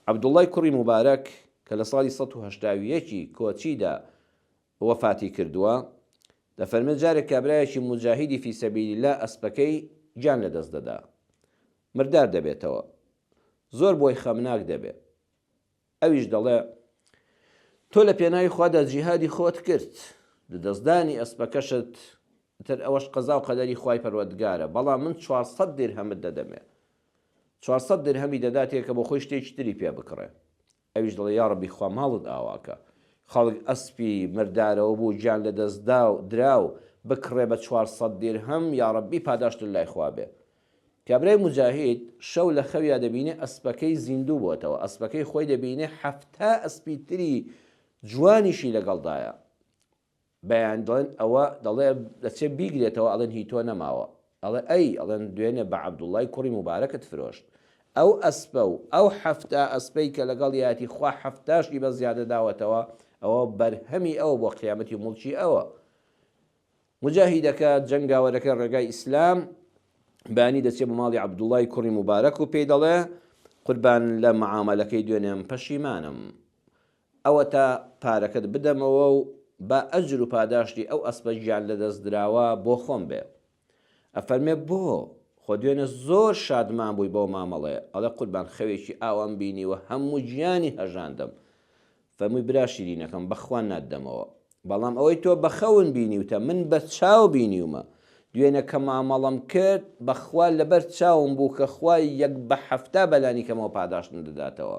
عەبدوڵڵای کوڕی موبارەک کە لە ساڵی سەد و هەشتا و یەک ی کۆچیدا وەفاتی کردووە، دەفەرمێت جارێک کابرایەکی موجاهیدی فی سەبیل اللە ئەسپەکەی گیان لەدەست دەدا، مردار دەبێتەوە، زۆر بۆی خەمناک دەبێ، ئەویش دەڵێ، تۆ لە پێناوی خوادا جیهادی خۆت کرد، لەدەستدانی ئەسپەکەشت تر ئەوەش قەزا و قەدەری خوای پەروەردگارە، بەڵام من چوار سەد دیرهەمت دەدەمێ، چوار سەد درهەمی دەداتێ کە بۆخۆی شتێکی تری پێ بکڕێ ئەویش دەڵێ یاڕەبی خوا ماڵت ئاواکە خەڵک ئەسپی مردارەوە بوو گیان لەدەستداو دراو بکڕێ بە چوار سەد درهەم یاڕەبی پاداشتت لای خوا بێ کابرای موجاهید شەو لە خەویا دەبینێ ئەسپەکەی زیندوو بۆتەوە ئەسپەکەی خۆی دەبینێ حەفتا ئەسپی تری جوانیشی لەگەڵدایە بەیان دەڵێن ئەوە دەڵێ دەچێ بیگرێتەوە ئەڵێن هی تۆ نەماوە ئەڵێ ئەی ئەڵێن دوێنێ بە عەبدوڵڵای کوڕی موبارەکت فرۆشت ئەو ئەسپە و ئەو حەفتا ئەسپەی کە لەگەڵیایەتی خوا حەفتاشی بە زیادە داوەتەوە ئەوە بەرهەمی ئەوە بۆ قیامەتی و موڵکی ئەوە مجاهیدەکە جەنگاوەرەکە ڕێگای ئیسلام بانی دەچێ بە ماڵی عەبدوڵای کوڕی موبارەک و پێی دەڵێ قوربان لە مەعامەلەکەی دوێنێم پەشیمانم ئەوەتا پارەکەت بدەمەوە و با ئەجر و پاداشتی ئەو ئەسپە گیان لەدەست دراوە بۆ خۆم بێ. ئەفەرمێ بۆ؟ خۆ دوێنێ زۆر شادمان بووی بەو مامەڵەیە. ئەڵێ قوربان خەوێکی ئاوام بینی و هەموو گیانی هەژاندم. فەرمووی برا شیرینەکەم بە خوا ناتدەمەوە. بەڵام ئەوەی تۆ بە خەون بینیوتە من بە چاو بینیومە. دوێنێ کە مامەڵەم کرد بە خوا لەبەر چاوم بوو کە خوا یەک بە حەفتا بەلانیکەمەوە پاداشتم دەداتەوە.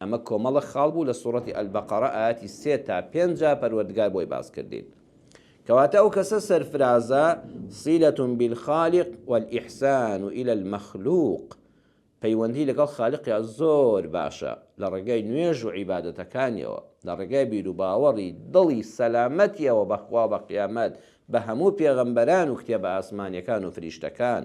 ئەمە کۆمەڵە خاڵ بوو لە سوڕەتی البقرە ئایەتی سێ تا پێنج جا پەروەردگار بۆی باس کردین کەواتە ئەو کەسە سەرفرازە صلة بالخالق والإحسان إلى المخلوق پەیوەندی لەگەڵ خالقیا زۆر باشە لە ڕێگای نوێژ و عیبادەتەکانیەوە لە ڕێگای بیروباوەڕی دڵی سەلامەتیەوە بەخوا بە قیامەت بە هەموو پێغەمبەران و کتێبە ئاسمانیەکان و فریشتەکان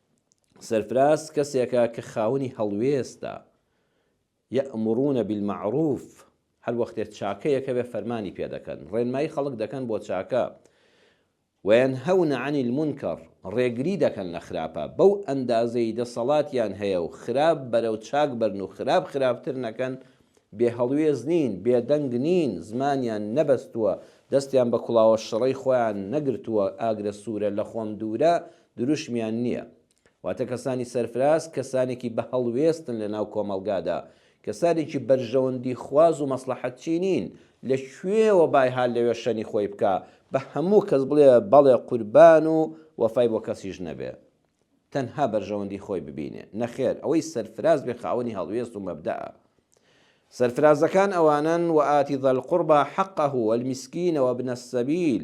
سەرفراز کەسێکە کە خاونی هەڵوێستە، یەئمرون بالمعروف، هەر وەختێ چاکەیەکە بێ فەرمانی پێ دەکەن، ڕێنمایی خەڵک دەکەن بۆ چاکە، وینهون عن المنکر، ڕێگری دەکەن لە خراپە، بەو ئەندازەی دەسەڵاتیان هەیە و خراپ بەرەو چاک بەرن و خراپ خراپتر نەکەن، بێ هەڵوێست نین، بێ دەنگ نین، زمانیان نەبەستووە، دەستیان بە کوڵاوە شڕەی خۆیان نەگرتووە، ئاگرە سوورە لە خۆم دوورە، دروشمیان نییە. واتە کەسانی سەرفراز کەسانێکی بە هەڵوێستن لە ناو کۆمەڵگادا، کەسانێکی بەرژەوەندی خواز و مەسڵەحەتچی نین، لە کوێوە بای هار لەوێ شەنی خۆی بکا، بە هەموو کەس بڵێ بەڵێ قوربان و وەفای بۆ کەسیش نەبێ. تەنها بەرژەوەندی خۆی ببینێ. نەخێر، ئەوەی سەرفراز بێ خاوەنی هەڵوێست و مەبدەئە. سەرفرازەکان ئەوانەن، وآت ذا القربی حقه والمسکین وابن السبیل،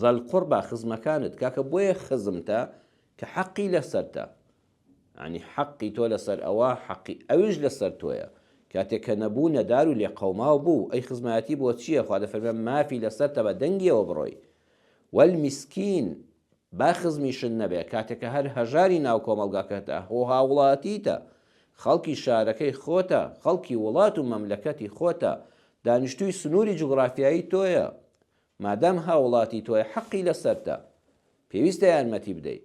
ذل قربا خزمەکانت کاکە بۆیە خزمتە کە حەقی لەسەرتە عنی حەقی تۆ لەسەر ئەوە حەقی ئەویش لەسەر تۆیە کاتێک کە نەبوو نەدار و لێقەوماو بوو ئەی خزمایەتی بۆ چییە خوا دەفەرمێ مافی لەسەرتە بە دەنگیەوە بڕۆی وەل میسکین با خزمیشت نەبێ کاتێک کە هەر هەژاری ناو کۆمەڵگاکەتە هۆ هاوڵاتیتە خەڵکی شارەکەی خۆتە خەڵکی وڵات و مەملەکەتی خۆتە دانیشتووی سنووری جوگرافیایی تۆیە مادام هاوڵاتی تۆیە حەقی لەسەرتە پێویستە یارمەتی بدەیت